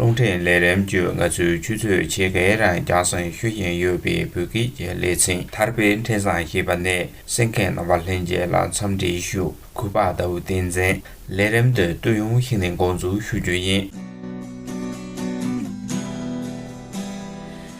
རླུང་འཕྲིན་ལས་རིམ་བཅོ་ལྔ་ཚུན་ཆུད་ཚོད་ཆེ་གེ་རང་རྐྱང་སེང་ཤོད་བཞིན་ཡོད་པའི་བོད་སྐད་ཀྱི་ལེ་ཚན་ཐར་པའི་འཕྲིན་བཟང་ཞེས་པ་ནས་སེང་གེ་རྣམ་པ་ལྷན་རྒྱས་ལ་འཚམས་འདྲི་ཞུ་གུས་པ་ལྟ་བུ་བསྟན་འཛིན་ལས་རིམ་འདི་བསྟོད་ཡོང་ཞིག་ནས་འགོ་འཛུགས་ཞུ་རྒྱུ་ཡིན།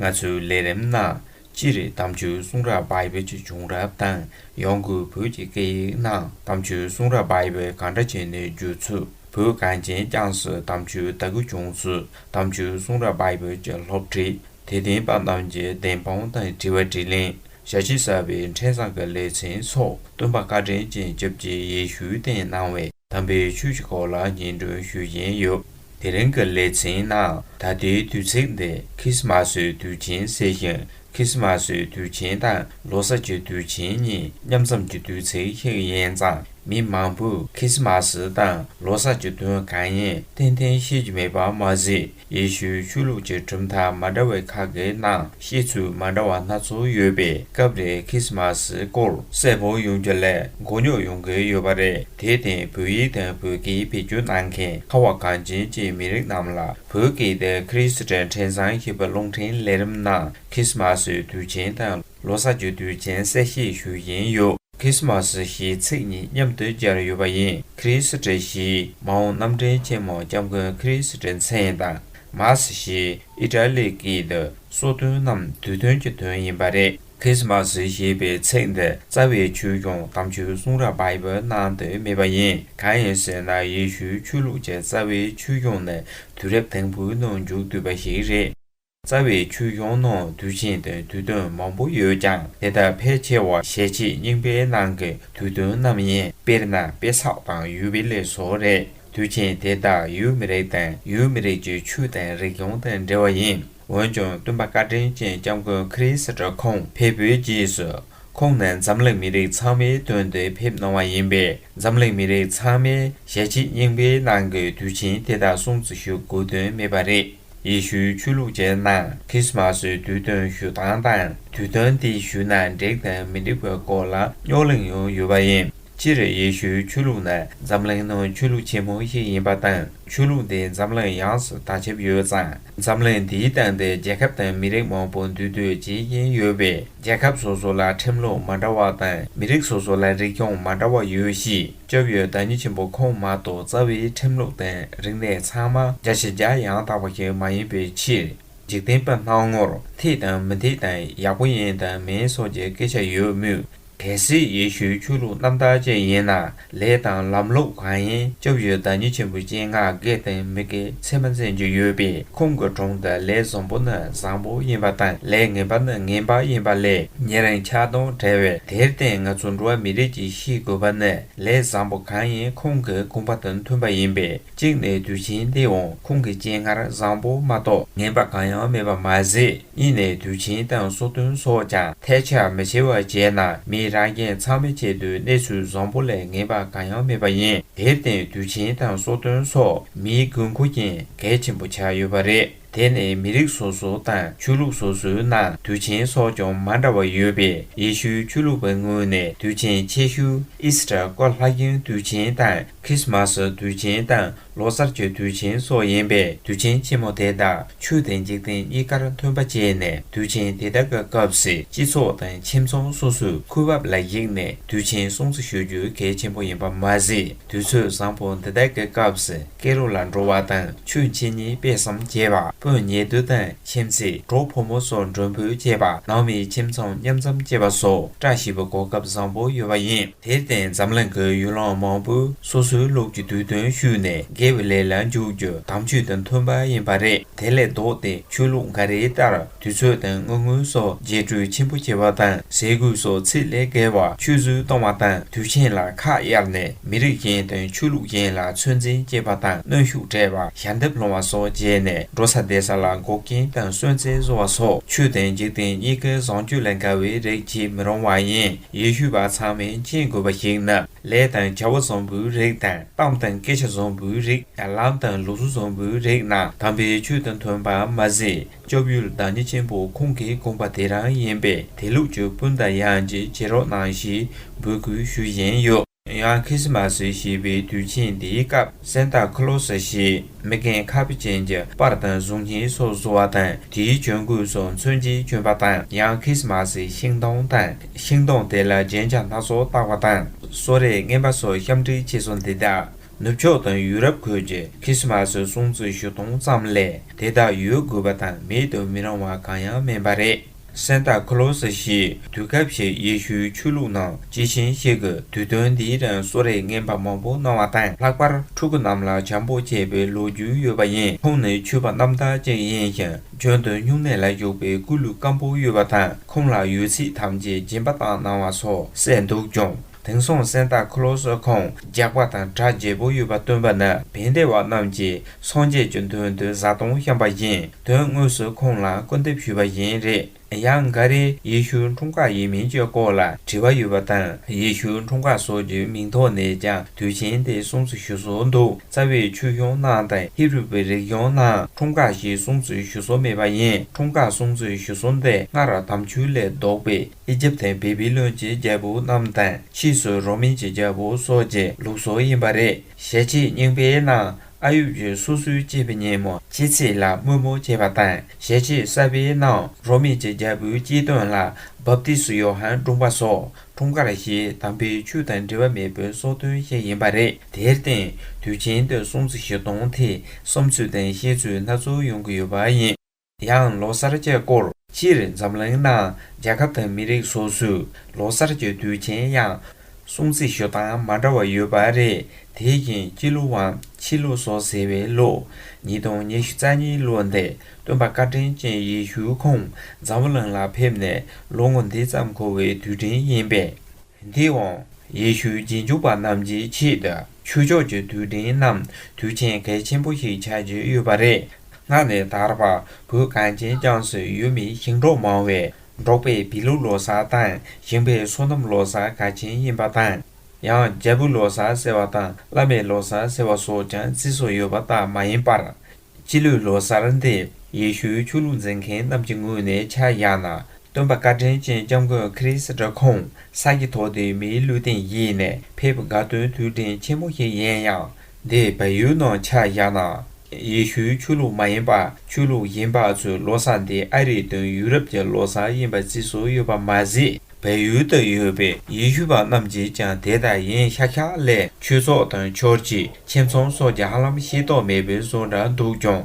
ང་ཚོའི་ལས་རིམ་ནང་སྤྱིར་གཏམ་བརྗོད་གསུང་རབ་བྷའི་བོད་ཀྱི་བྱུང་རབས་དང་ཡང་སྒོས་བོད་ཀྱི་སྐད་ཡིག་ནང་གཏམ་བརྗོད་གསུང་རབ་བྷའི་བོད་གང་འདྲ་བྱས་ནས་བརྗོད་ཚུལ་བོད་གངས་ཅན་བསྐྱངས་སུ་གཏམ་བརྗོད་ལྟ་སྐུལ་བྱུང་ཚུལ་གཏམ་བརྗོད་གསུང་རབ་བྷའི་བོད་ཀྱི་སློབ་ཁྲིད་དེ་བསྟན་པ་རྣམས་ཀྱི་བདེན་དཔང་དང་དྲི་བ་དྲིས་ལན་ཞལ་ཕྱེ་གསར་པའི་འཕྲིན་བཟང་གི་ལེ་ཚན་སོགས་སྟོན་པ་བཀའ་དྲིན་ཅན་བཅུ་བཞིའི་ཡེ་ཤུའི་རྟེན་གནང་བའི། དམ་པའི་ཆོས་ཀྱི་སྐོར་ལ་སྙན་སྒྲོན་ཞུ་བཞིན་ཡོད། དེ་རིང་གི་ལེ་ཚན་ནང་ད་ལྟའི་དུས་ཚིགས་འདི་ཁྲིས་སྨ་སོའི་དུས་ཆེན་ཟེར་ཞིང་ཁྲིས་སྨ་སོའི་དུས་ཆེན་དང་ལོ་སར་གྱི་དུས་ཆེན་གཉིས་མཉམ་འཛོམས་ཀྱི་དུས་ཚིགས་ཤིག་ཡིན་ཙང་མི་མང་པོས་ཁྲིས་སྨ་སི་དང་ལོ་སར་གྱི་དོན་གང་ཡིན་ཐེངས་ཐེངས་ཤེས་ཀྱི་མེད་པ་མ་ཟད། ཡེ་ཤུའི་ཆོས་ལུགས་ཀྱི་གྲུབ་མཐའ་མ་འདྲ་བའི་ཁག་གི་ནང་ཤེས་ཚུལ་མ་འདྲ་བ་སྣ་ཚོགས་ཡོད་པས་སྐབས་རེ་ཁི་སི་མ་སི་སྐོར་གསལ་པོ་ཡོང་རྒྱུ་ལས་མགོ་རྙོག་ཡོང་གི་ཡོད་པ་རེད་དེ་བརྟེན་བོད་ཡིག་དང་བོད་སྐད་ཕེ་སྒྱུར་གནང་མཁན་ཁ་བ་གངས་ཅན་གྱི་མི་རིགས་རྣམས་ལ་བོད་སྐད་དང་ཁི་རི་སི་ཏན་ཕྲན་བཟང་ཞེས་པའི་རླུང་འཕྲིན་ལས་རིམ་ནང་ཁི་སི་མ་སི་དུས་ཆེན་དང། ལོ་གསར་བརྗོད་དུས་སྦྱན་གསལ་བཤད་ཞུ་ཡིན་ཡོད། Christmas ཞེས་ཚིག་གཉིས་མཉམ་དུ་སྦྱར་ཡོད་པ་ཡིན་ཁྲི་སི་ཏྲེ་ཞེས་མ་འོངས་རྣམ་འདྲེན་ཆེན་མོ་སྐྱབས་མགོན་ཁྲི་སི་ཏྲེ་མཚན་དང Mass ཞེས་ཨི་ཏྲ་ལི་ཀི་ཏུ་སོགས་དོན་རྣམས་དུས་སྟོན་གྱི་དོན་ཡིན་པ་རེད། Christmas ཞེས་པའི་ཚིག་འདི་རྩ་བའི་ཆོས་སྐྱོང་དམ་ཆོས་གསུང་རབ Bible ནང་དུ་མེད་པ་ཡིན་གང་ཡིན་ཟེར་ན་ཡེ་ཤུའི་ཆོས་ལུགས་ཀྱི་རྩ་བའི་ཆོས་སྐྱོང་ནི་དུས་རབས་དང་པོའི་ནང་འཇུག་བསྡུས་པ་ཞིག་རེད། རྩ་བའི་ཆོས་གཞུང་ནང་དུས་ཆེན་དང་དུས་སྟོན་མང་པོ་ཡོད་ཀྱང་དེ་དག་ཕལ་ཆེ་བ་ཞལ་ཕྱེས་རྙིང་པའི་ནང་གི་དུས་སྟོན་རྣམས་ཡིན་དཔེར་ན་པེ་སག་དང་ཡུལ་བི་ལེ་སོགས་རེད་དུས་ཆེན་དེ་དག་ཡུལ་མི་རིགས་དང་ཡུལ་མི་རིགས་ཀྱི་ཆོས་དང་རིག་གཞུང་དང་འབྲེལ་བ་ཡིན་འོན་ཀྱང་སྟོན་པ་བཀའ་དྲིན་ཅན་སྐྱབས་མགོན་ཁ་རི་སི་ཀྲ་ཁོང་ཕེབས་པའི་རྗེས་སུ་ཁོང་ནས་འཛམ་གླིང་མི་རིགས་ཚང་མའི་དོན་དུ་ཕེབས་གནང་བ་ཡིན་པས་འཛམ་གླིང་མི་རིགས་ཚང་མས་ཞལ་ཕྱེས་རྙིང་པའི་ནང་གི་དུས་ཆེན་དེ་དག་སྲུང་བརྩི་ཞུ་དགོས་དོན་མེད་པ་རེད། ཡེ་ཤུའི་ཆོས་ལུགས་ཅན་རྣམས་ཁྲིས་དམར་སོའི་དུས་སྟོན་ཞུ་སྟངས་དང་དུས་སྟོན་དེ་ཞུ་ན་འགྲིག་དང་མི་འགྲིག་པའི་སྐོར་ལ་རྙོག་གླེང་ཡང་ཡོད་པ་ཡིན། སྤྱིར་ཡེ་ཤུའི་ཆོས་ལུགས་ནི་འཛམ་གླིང་ནང་ཆོས་ལུགས་ཆེན་མོ་ཞིག་ཡིན་པ་དང་ཆོས་ལུགས་འདི་འཛམ་གླིང་ཡོངས་སུ་དར་ཁྱབ་ཡོད་ཙང་འཛམ་གླིང་འདིའི་སྟེང་དུ་རྒྱལ་ཁབ་དང་མི་རིགས་མང་པོ་འདུས་སྡོད་བྱེད་ཀྱིན་ཡོད་པས། རྒྱལ་ཁབ་སོ་སོ་ལ་ཁྲིམས་ལུགས་མ་འདྲ་བ་དང་མི་རིགས་སོ་སོ་ལ་རིག་སྐྱོང་མ་འདྲ་བ་ཡོད་གཤིས་སྐྱོབ་ཡོད་བདག་ཉིད་ཆེན་པོ་ཁོང་མ་གཏོགས་རྩ་བའི་ཁྲིམས་ལུགས་དང་རིག་གནས་ཚང་མ་རྒྱ་ཞེས་བརྒྱ་ཡང་དག་པ་ཞིག་མ་ཡིན་པའི་ཕྱིར། འཇིག་རྟེན་པ་སྣང་ངོར་ཐིག་དང་མི་ཐིག་དང་ཡག་པོ་ཡིན་དང་མིན་སོགས་ཀྱི་སྐད་ཆ་ཡོད་མུས། གལ་སྲིད་ཡེ་ཤུའི་ཆོས་ལུགས་རྣམ་དག་ཅན་ཡིན་ན། ལས་དང་ལམ་ལུགས་གང་ཡིན་སྐྱོབ་ཡུལ་བདག་ཉིད་ཆེན་པོའི་སྤྱན་སྔར་དགེ་ལྡན་མི་དགེ་མཚན་མ་མཚན་བརྗོད་ཡོད་པས་ཁོང་གི་གྲོང་དུ་ལས་བཟང་པོ་ནི་བཟང་པོ་ཡིན་པ་དང་ལས་ངན་པ་ནི་ངན་པ་ཡིན་པ་ལས་ཉེ་རིང་ཆགས་སྡང་བྲལ་བས་དེར་བརྟེན་ང་ཚོ་འགྲོ་བ་མི་རིགས་ཀྱིས་ཤེས་དགོས་པ་ནི་ལས་བཟང་པོ་གང་ཡིན་ཁོང་གི་དགོངས་པ་དང་མཐུན་པ་ཡིན་པས་གཅིག་ནས་དུས་ཆེན་འདིའང་ཁོང་གི་སྤྱན་སྔར་བཟང་པོ་མ་གཏོགས་ངན་པ་གང་ཡང་མེད་པ་མ་ཟད། གཉིས་ནས་དུས་ཆེན་དང་སོ་བདུན་སོགས་ཀྱང་ཐལ་ཆ་མི་བྱེད་པ་བྱས་ན་མི་རང་རྒྱལ་ཚང་མའི་ཆེད་དུ་གནས་ཚུལ་བཟང་པོ་ལས་ངན་པ་གང་ཡང་མེད་པ་ཡིན་དེར་བརྟེན་དུས་ཆེན་དང་སོ་བདུན་སོགས་མིའི་དགོས་མཁོ་རྐྱེན་གལ་ཆེན་པོ་ཆགས་ཡོད་པ་རེད་དེ་ནི་མི་རིགས་སོ་སོ་དང་ཆོས་ལུགས་སོ་སོའི་ནང་དུས་ཆེན་སོགས་ཀྱང་མ་འདྲ་བ་ཡོད་པས་ཡེ་ཤུའི་ཆོས་ལུགས་པའི་ངོས་ནས་དུས་ཆེན་ཆེ་ཤོས་ཨིས་ཏར་ཀ་ལྷ་གཡང་དུས་ཆེན་དང་ཁྲིས་མ་སི་དུས་ཆེན་དང་ལོ་གསར་གྱི་དུས་ཆེན་སོགས་ཡིན་པས་དུས་ཆེན་ཆེན་མོ་དེ་དག་ཆོས་དང་འཇིག་རྟེན་གཉིས་ཀར་མཐུན་པ་བྱས་ནས་དུས་ཆེན་དེ་དག་གི་སྐབས་སུ་སྤྱི་ཚོགས་དང་ཁྱིམ་ཚང་སོ་སོས་ཁུར་བབས་ལ་གཞིགས་ནས་དུས་ཆེན་སྲུང་བརྩི་ཞུ་རྒྱུ་གལ་ཆེན་པོ་ཡིན་པ་མ་ཟད་དུས་ཚོད་བཟང་པོ་འདི་དག་གི་སྐབས་སུ་སྐེ་རུ་ལ་འགྲོ་བ་དང་ཆོས་འཆད་ཉན་སྤེལ་བསམ་བྱེད་པ་སྤུན་ཉེ་བསྡུ་དང་ཁྱིམ་མཚེས་གྲོགས་ཕོ་མོ་སོགས་མགྲོན་འབོད་བྱེད་པ་ནང་མིའི་ཁྱིམ་ཚང་མཉམ་འཛོམས་བྱེད་པ་སོགས་བཀྲ་ཤིས་པའི་གོ་སྐབས་བཟང་པོ་ཡོད་པ་ཡིན། དེར་བརྟེན་འཛམ་གླིང་གི་ཡུལ་ལྷ་མང་པོས་སོ་སོའི་ལུགས་ཀྱི་དུས་སྟོན་ཞུས་ནས་དགེ་བའི་ལས་ལ་འཇུག་རྒྱུ་དམ་ཆོས་དང་མཐུན་པ་ཡིན་པ་རེད་དེ་ལས་ལྡོག་སྟེ་ཆོས་ལུགས་འགའ་རེའི་ལྟར་དུས་ཚོད་དང་དངུལ་དངོས་སོགས་རྒྱས་སྤྲོས་ཆེན་པོ་བྱེད་པ་དང་ཟས་གོས་སོགས་ཚིག་ལས་བརྒལ་བ་ཆུད་ཟོས་གཏོང་བ་དང་དུས་ཆེན་ལ་ཁ་གཡར་ནས་མི་རིགས་གཞན་དང་ཆོས་ལུགས་གཞན་ལ་ཚོད་འཛིན་བསྐྱེད་པ་དང་གནོན་ཤུགས་སྤྲད་པ་ཞལ་འདེབས་སློང་བ་སོགས་བྱས་ནས་འགྲོ་ས་བསྡད་ས་ལ་འགོག་རྐྱེན་དང་གསོན་རྩལ་བཟོ་བ་སོགས་ཆོས་དང་འཇིག་རྟེན་གཉིས་ཀའི་བཟང་སྤྱོད་ལས་འགལ་བའི་རིགས་བྱེད་མི་རུང་བ་ཡིན། ཡེ་ཤུ་བ་ཚང་མས་མཁྱེན་དགོས་པ་ཞིག་ནི་ལས་དང་བྱ་བ་བཟང་པོའི་རིགས་དང་གཏམ་དང་སྐད་ཆ་བཟང་པོའི་རིགས་ལམ་དང་ལུགས་སྲོལ་བཟང་པོའི་རིགས་རྣམས་དམ་པའི་ཆོས་དང་མཐུན་པ་མ་ཟད་སྐྱབས་ཡུལ་བདག་ཉིད་ཆེན་པོ་ཁོང་གིས་དགོངས་པ་དེ་རང་ཡིན་པས་དེ་ལུགས་ཀྱི་སྤུན་ཟླ་ཡང་གཅིག་བྱེད་རོགས་གནང་ཞེས་འབོད་སྐུལ་ཞུ་བཞིན་ཡོད། ཡང་ཁི་སི་མ་སི་ཞེས་པའི་དུས་ཆེན་དེའི་སྐབས་སན་ཏཱ་ཁི་ལོ་སི་ཞེས་མི་རྒན་ཁ་བུ་ཅན་གྱི་པར་དང་གཟུགས་བརྙན་སོགས་བཟོ་བ་དང་དེའི་གྱོན་གོས་སོགས་མཚོན་གྱིས་གྱོན་པ་དང་ཡང་ཁི་སི་མ་སི་ཤིང་སྡོང་དང་ཤིང་སྡོང་དེ་ལ་རྒྱན་ཆ་སྣ་ཚོགས་བཏགས་པ་དང་གསོལ་རས་རྔན་པ་སོགས་གཤམ་འཁྲིད་ཆེ་སོང་དེ་དག་ནུབ་ཕྱོགས་དང་ཡུ་རོབ་ཁུལ་གྱི་ཁི་སི་མ་སི་སྲུང་བརྩི་ཞུ་སྟངས་ཙམ་ལས་དེ་དག་ཡོད་དགོས་པ་དང་མེད་དུ་མི་རུང་བ་གང་ཡང་མིན་པ་རེད། གསན་བདག་ཁོ་ལོ་སཱི་ཞེས་དུས་སྐབས་ཤིག་ཡེ་ཤུའི་ཆོས་ལུགས་ནང་ཇི་བཞིན་གཤེགས་ཀྱི་དུས་སྟོན་འདིའི་རིང་གསོལ་རས་ངན་པ་མང་པོ་གནང་བ་དང་ལྷག་པར་ཕྲུ་གུ་རྣམས་ལ་བྱམས་པོ་བྱས་པའི་ལོ་རྒྱུས་ཡོད་པ་ཡིན་ཁོང་ནི་ཆོས་པ་རྣམ་དག་ཅིག་ཡིན་ཞིང་འཇོན་དུ་སྨྱུང་གནས་ལ་ཞུགས་པའི་སྐུ་ལུས་སྐམ་པོ་ཡོད་པ་དང་ཁོང་ལ་ཡོད་ཚད་ཐམས་ཅད་སྦྱིན་པ་བཏང་གནང་བ་སོགས་གསལ་འདུག་ཀྱང། དེང་སང་གསེར་རྟ་ཁུ་ལོ་སོགས་ཁང་རྒྱག་པ་དང་གྲ་རྒྱས་པོ་ཡོད་པ་སྟོན་པ་ནི་བན་དེ་བ་རྣམས་ཀྱིས་སངས་རྒྱས་ཀྱི་མདུན་དུ་བཟའ་བཏུང་བཤམས་པ་བཞིན་དོན་དངོས་སུ་ཁོང་ལ་སྐུར་འདེབས་ཞུས་པ་བཞིན་རེད། ཡང་འགའ་རེས་ཡེ་ཤུའི་འཁྲུངས་སྐར་ཡིན་མིན་གྱི་སྐོར་ལ་དྲི་བ་ཡོད་པ་དང་ཡེ་ཤུའི་འཁྲུངས་སྐར་སོགས་ཀྱི་མིང་ཐོག་ནས་ཀྱང་དུས་ཆེན་དེ་གསུངས་སུ་ཞུ་སྲོལ་འདུག་རྩ་བའི་ཆོས་གཞུང་ནང་དང་ཧེ་རུ་པའི་རིག་གཞུང་ནང་འཁྲུངས་སྐར་ཞེས་གསུངས་སུ་ཞུ་སྲོལ་མེད་པ་ཡིན་འཁྲུངས་སྐར་གསུངས་སུ་ཞུ་སྲོལ་འདི་སྔ་རབས་དམ་ཆོས་ལས་ལྡོག་པའི། ཨི་ཇིབ་དེ་བི་བི་ལོན་གྱི་རྒྱལ་པོ་རྣམས་དང་ཕྱིས་སུ་རོ་མིན་གྱི་རྒྱལ་པོ་སོགས་ཀྱི་ལུགས་སོགས་ཡིན་པ་རེད། ཞལ་ཕྱེས་རྙིང་པའི་ནང་ཨ་ཡུབ་ཀྱི་སོ་སོའི་སྐྱེས་པའི་ཉིན་མོ་སྐྱེས་ཚེས་ལ་དམོད་མོ་བྱེད་པ་དང་ཞལ་ཕྱེས་གསར་པའི་ནང་རོ་མིན་གྱི་རྒྱལ་པོའི་སྐྱེས་སྟོན་ལ་བབ་ཏི་སུ་ཡོ་ཧན་སྒྲུང་པ་སོགས་འཁྲུངས་སྐར་ཞེས་དམ་པའི་ཆོས་དང་འབྲེལ་བ་མེད་པའི་སོགས་དོན་ཤེས་ཡིན་པ་རེད། དེར་བརྟེན་དུས་ཆེན་དུས་གསུམ་ཚེས་བཞི་སྟོང་ཐེངས་གསུམ་ཚུལ་ལྡན་བཤད་ཚུལ་སྣ་ཚོགས་ཡོང་གི་ཡོད་པ་ཡིན། ཡང་ལོ་གསར་བརྒྱད་སྐོར་སྤྱིར་འཛམ་གླིང་ནང་རྒྱལ་ཁབ་དང་མི་རིགས་སོ་སོས་ལོ་གསར་བརྒྱད་དུས་ཆེན་ཡང་སྲུང་ཚིག་ཞོ་སྟངས་མ་འདྲ་བ་ཡོད་པ་རེད་དེ་བཞིན་སྤྱི་ལོ་བའམ་ཕྱི་ལོ་སོགས་ཟེར་བའི་ལོ་ཉིས་སྟོང་ཉི་ཤུ་རྩ་གཉིས་ལོ་འདི་སྟོན་པ་བཀའ་དྲིན་ཅན་ཡེ་ཤུའི་ཁོང་འཛམ་བུ་གླིང་ལ་ཕེབས་ནས་ལོ་ངོ་འདི་ཙམ་འཁོར་བའི་དུས་དྲན་ཡིན་པས། དེ་འོང་ཡེ་ཤུའི་རྗེས་འཇུག་པ་རྣམས་ཀྱི་ཆེད་དུ་ཆོས་ཕྱོགས་ཀྱི་དུས་དྲན་ནམ་དུས་ཆེན་གལ་ཆེན་པོ་ཞིག་ཆགས་ཀྱི་ཡོད་པ་རེད། སྔར་ནས་དར་བ་བོད་གངས་ཅན་བསྐྱངས་སུ་ཡོད་མི་ཞིང་འབྲོག་མང་བས་འབྲོག་པའི་བི་ལུ་ལོ་སར་དང་ཞིང་པའི་སོ་ནམ་ལོ་སར་ག་ཆེན་ཡིན་པ་དང། ཡང་རྒྱལ་བུ་ལོ་སར་ཟེར་བ་དང་བླ་མའི་ལོ་སར་ཟེར་བ་སོགས་ཀྱང་རྩིས་སུ་ཡོད་པ་ལྟར་མ་ཡིན་པར། སྤྱི་ལོའི་ལོ་སར་འདི་ཡེ་ཤུའི་ཆོས་ལུགས་འཛིན་མཁན་རྣམས་ཀྱི་ངོས་ནས་ཆ་བཞག་ན་སྟོན་པ་བཀའ་དྲིན་ཅན་སྐྱབས་མགོན་ཁ་རིས་སྒྲ་ཁོང་ས་ཀྱི་ཐོག་ཏུ་མིའི་ལུས་སྟེང་ཡེ་ནས་ཕེབས་དགའ་སྟོན་དུས་དྲན་ཆེན་མོ་ཞིག་ཡིན་ཡང། དེས་བལ་ཡུལ་ནང་ཆ་བཞག་ན། ཡེ་ཤུའི་ཆོས་ལུགས་མ་ཡིན་པ་ཆོས་ལུགས་ཡིན་པ་ཚོའི་བློ་བཟང་དེ་ཨ་རིའི་དོན་ཡུ་རབ་ཀྱི་བློ་བཟང་ཡིན་པ་བརྩི་སྲོལ་ཡོད་པ་མ་ཟད་བལ་ཡུལ་དུ་ཡོད་པའི་ཡེ་ཤུ་པ་རྣམས་ཀྱིས་ཀྱང་དེ་ལྟར་ཡིན་ཤག་ཤག་ལས་ཆོས་ཚོགས་དང་ཆོར་གྱི་ཁྱིམ་ཚང་སོགས་ཀྱི་ཧ་ལམ་ཤེས་རྟོགས་མེད་པའི་བཟོ་འདྲ་འདུག་ཀྱང།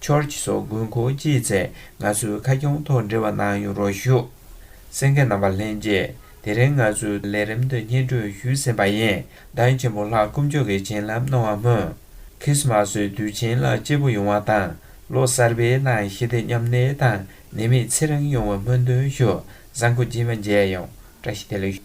George སོགས་དགོས་མཁོ་ཅི་ཚད་ང་ཚོའི་ཁ་སྐྱོང་ཐོག་འབྲེལ་བ་གནང་ཡོད་རོགས་ཞུ། སེང་གེ་རྣམ་པ་ལྷན་རྒྱས་དེ་རིང་ང་ཚོའི་ལས་རིམ་དུ་སྙན་སྒྲོན་ཞུས་ཟིན་པ་ཡིན་གདངས་ཆེན་པོ་ལྷག་དཀོན་མཆོག་གི་བྱིན་རླབས་གནང་བ་སྨོན། ཁི་སི་མ་སོའི་དུས་ཆེན་ལ་སྐྱེས་བུ་ཡོང་བ་དང་ལོ་གསར་པའི་ནང་ཞི་བདེ་མཉམ་གནས་དང་ནད་མེད་ཚེ་རིང་ཡོང་བའི་སྨོན་འདུན་ཞུ་བཟང་གོ་སྦྱིན་བ་མཇལ་ཡོངས་བཀྲ་ཤིས་བདེ་ལེགས།